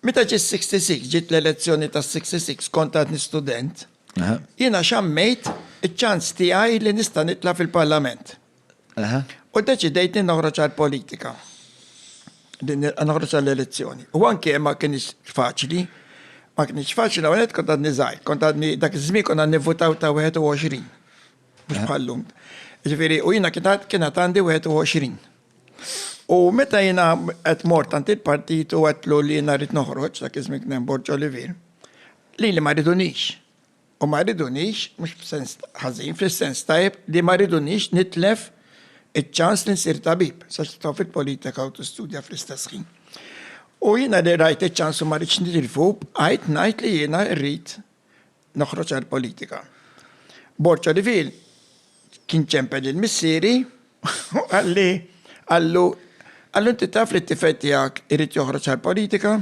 Meta ġiet 66, ġiet l-elezzjoni ta' 66 kont għadni student, jiena xammejt iċ-ċans tiegħi li nista' nitla' fil-Parlament. U deċidejt li noħroġ għall-politika. Li noħroġ għall-elezzjoni. U anke ma kienx faċli, ma kienx faċli l kont għadni żgħir, kont għadni dak iż-żmien kont għadni votaw ta' 21. Mhux bħal-lum. Ġifieri, u jiena kien għandi 21. U meta jiena qed mort għand il-partit u għedtlu li jiena rrid noħroġ, dak iż-żmien kien hemm Borg Olivier, lili ma ridunix. U ma ridunix, mhux f'sens ħażin, fis-sens tajjeb li ma ridunix nitlef iċ-ċans li nsir tabib, sax titfa' fil-politika u tistudja fl-istess ħin. U jiena li rajt iċ-ċans u ma ridtx nitilfu, bqajt ngħid li jiena rrid noħroġ għall-politika. Borċa Riviere kien ċempel lil missieri u qalli, qallu, qallu inti taf li t-tifel tiegħek irid joħroġ għall-politika?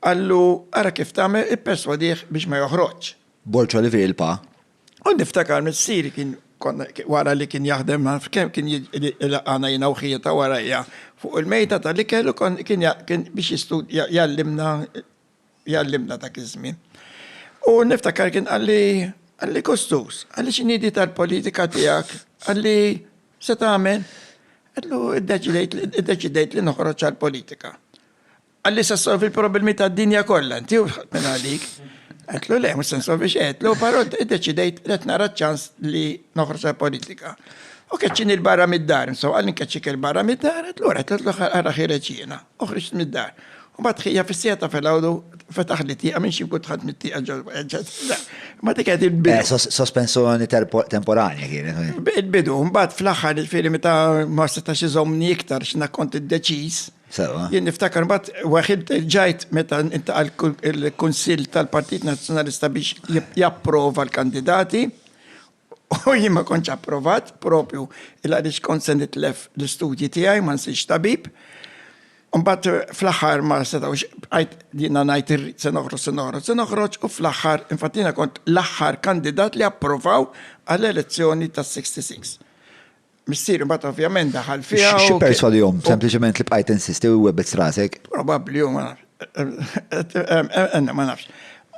Qallu, ara kif tagħmel, ipperswadih biex ma joħroġx. Borċa Riviere il-Pa. U niftakar missieri kien konna wara li kien jaħdem ma nafx kemm kien ilaqgħana jiena u ħieta warajja fuq il-mejda tal-ikel u kien kien biex jistudja jgħallimna jgħallimna dak iż-żmien. U niftakar kien qalli qalli Kostus, qalli x'inidi tal-politika tiegħek, qalli se tagħmel? Qallu iddeċidejt li noħroġ għall-politika. Qalli se solvi l-problemi tad-dinja kollha inti u minn għalik. Għetlu le, mux sensu biex għetlu, pero id-deċidejt li nara ċans li noħroġ politika. U keċċin il-barra mid-dar, nso għallin keċċik il-barra mid-dar, għetlu għetlu għarra ħireċina. u ħriġt mid-dar. U bat ħija fis-sija ta' filgħodu fetaħ li tieqa minn xi nkun tħadd mit-tieqa ġol Ma dik qed il-bidu. Eh, sospensjoni temporanja kienet. Eh. Il-bidu, mbagħad fl-aħħar il-fieri meta ma setax iżommni iktar x'na kont iddeċiż. Sewa. Jien niftakar mbagħad waħid ġajt meta intaqal il-Kunsill tal-Partit Nazzjonalista biex japprova l-kandidati. U jien ma kontx approvat, proprju il għaliex kont se nitlef l-istudji tiegħi, ma nsirx tabib. Mbagħad fl-aħħar ma setgħux bqajt jiena ngħid irrid se noħroġ, se noħroġ, se noħroġ u fl-aħħar infatti jiena kont l-aħħar kandidat li approvaw għall-elezzjoni tas-'66. Missier imbagħad ovvjament daħal fiha. Xi perswadihom sempliċement li bqajt insisti u webet strasek? Probabbli u ma nafx. Ma nafx.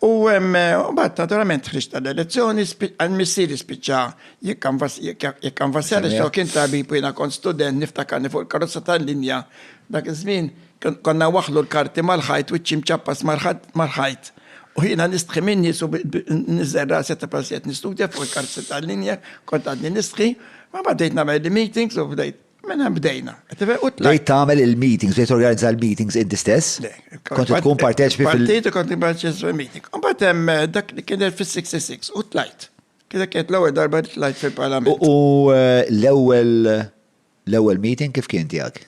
U mbagħad naturalment ħriġt tal-elezzjoni, missieri spiċċa jikkanvassjani xo kien tabib u jiena kont student niftakarni fuq il-karozza tal-linja dak iż-żmien Konna nwaħħlu l-karti mal-ħajt, wiċċi mċappas mal-ħajt, u jiena nistħi minni su niżel rasi ta' prasijiet nistudja fuq il-karti tal-linja, kont għadni nistħi, ma bdejt nagħmel il-meetings u bdejt. Minna bdejna. Bdejt tagħmel il-meetings, bdejt organizza l-meetings inti stess? Le. Kont tkun parteċipi fil- Partit u kont parteċipi fil-meeting. U bat hemm dak li kien fis-66 u tlajt. Kienet kienet l-ewwel darba li tlajt fil-Parlament. U l-ewwel L-ewwel meeting kif kien tiegħek?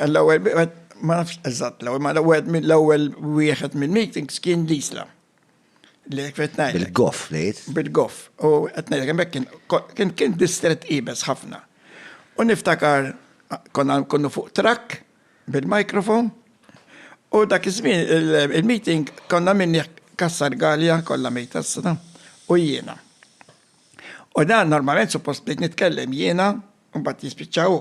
L-ewwel wieħed ma nafx eżatt l-ewwel, ma l-ewwel mill-ewwel wieħed mill-meetings kien l-isla. Li qed ngħid. Bil-goff ngħid. Bil-goff. U qed ngħidlek hemmhekk kien kien distret iebes ħafna. U niftakar konna nkunu fuq trakk bil-mikrofon u dak iż-żmien il-meeting konna minni Kassar Galja kollha mejta s-sena u jiena. U dan normalment suppost bdejt nitkellem jiena u mbagħad jispiċċa hu.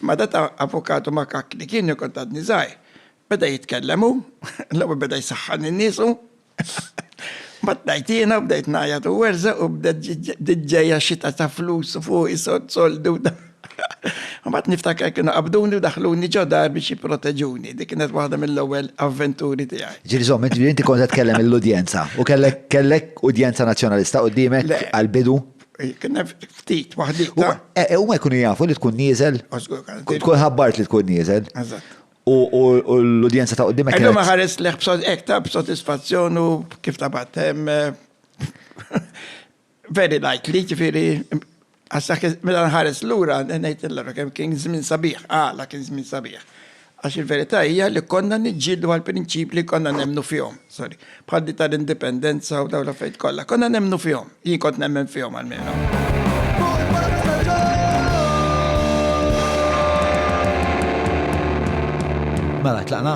Ma data avukatu ma kak li kien kont għadni żgħir. Beda jitkellem hu, l-ewwel beda jsaħħan in-niesu. Ma tnajt jiena bdejt ngħajjat u werża u bdiet ġejja xita ta' flus fuq is-soldu. Mbagħad niftakar kienu qabduni u daħħluni ġo dar biex jipproteġuni. Dik kienet waħda mill-ewwel avventuri tiegħi. Ġieli żomm, ġieli inti kont qed tkellem lill-udjenza u kellek kellek udjenza Nazzjonalista qudiemek Le. għall-bidu? Kien hemm ftit waħdita. Eh, eh, Huma jkunu jafu li tkun nieżel? U żgur kien Kont tkun ħabbart li tkun nieżel. Eżatt. U u- u l-udjenza ta' qudiemek Illum kienet. ħares leħ b'sod ektar b'sodisfazzjon u kif tabat. em, eh, Very likely, ġifieri għax meta nħares lura ngħid l kemm kien żmien sabiħ, għala kien żmien sabiħ. Għax il-verità hija li konna niġġieldu għal prinċip li konna nemmnu fihom, sorry, bħal di tal-indipendenza u dawn l-affarijiet kollha. Konna nemmnu fihom, jien kont nemmen fihom għalmenu. Mela, tlaqna.